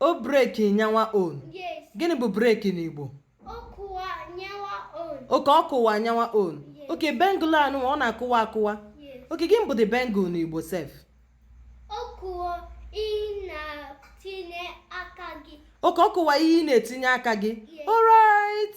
O break nyanwa own. Yes. Gịnị bụ break n'Igbo? Ọ kụwa nyanwa own. Okay ọ kụwa nyanwa own. Yes. Okay bangle anụ ọ na-akụwa akụwa. Yes. Okay gịnị bụ the bangle n'Igbo sef? Ọ kụwa ị na-etinye aka gị. Okay ọ kụwa ihe ị na-etinye aka gị. Yes. Alright.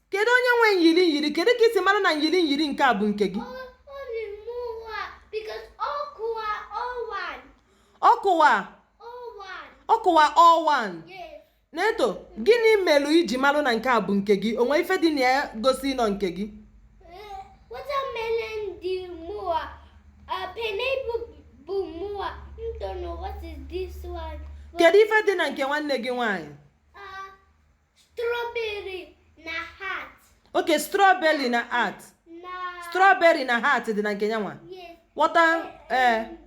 kedu onye nwe nyiri nyiri kedu ka i si mara na nyiri nyiri nke a bụ nke gị ọkụwa ọkụwa one Neto gịnị melụ i ji marụ na nke a bụ nke gị o nwe ife dị na ya gosi n'ọ nke gị kedu ife dị na nke nwanne gị nwaanyị Strawberry na heart. ok strawberry na heart Na. strawberry na heart dị na nke nyanwa Yes. what else And,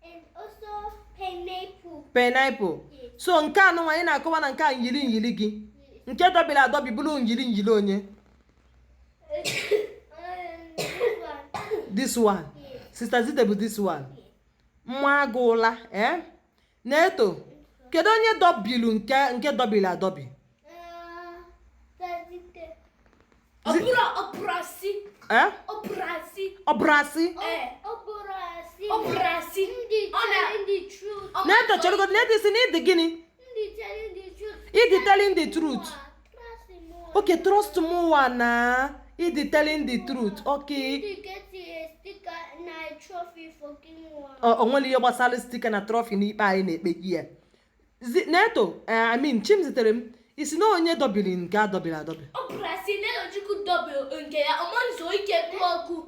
and also pineapple. pineapple Yes. so nke a nụnwa ị na-akọwa na nke a nyiri nyiri gị nke dọbiri adọbi bụrụ nyiri nyiri onye Um, this one. this one Yes. sister Zite bụ this one nwa agụụla ee Neto kedu onye dọbilu nke nke dọbili adọbi eh? Neto cherugodo Neto ị sị na ị dị gịnị ị dị telling the truth Okay, trust mụwa na ị dị telling the truth. Okay. He get a sticker na a trophy for King One. Ọ ọ nwere ihe gbasara sticker na trophy n'ikpe anyị na-ekpe here. Zi- Neto, eh, I mean, Chimziterem. Ị sị na onye dọbiri nke a dọbiri adọbi. Ọ bụrụ a sị na Elochukwu dọbie nke ya ọ ma nzu ike kwuo okwu.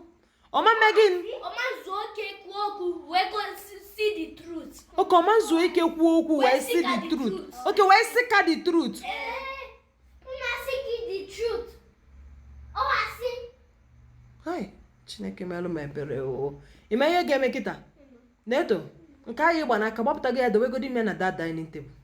ọ ma mme gịnị ọ ma zuo ike kwuo okwu wee sị the truth okay ọ ma zuo ike kwuo okwu wee sị the truth okay wee si ka the truth mmasị gị the truth ọwasị hai chineke melụ m ebere o ị ma ihe ga-eme kịta Neto nke a ị gba n'aka gbapụta gị ya dowegodi ime na the dining table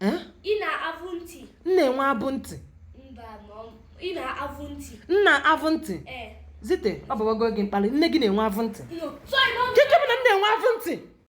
Eh? Ị na-abụ ntị. M na-enwe abụ ntị. Mba, ị na-abụ ntị. M na-abụ ntị. Eh. Zite, ọ bụwago gị mkpali. Nne gị na-enwe abụ ntị. Keke m na m na-enwe abụ ntị.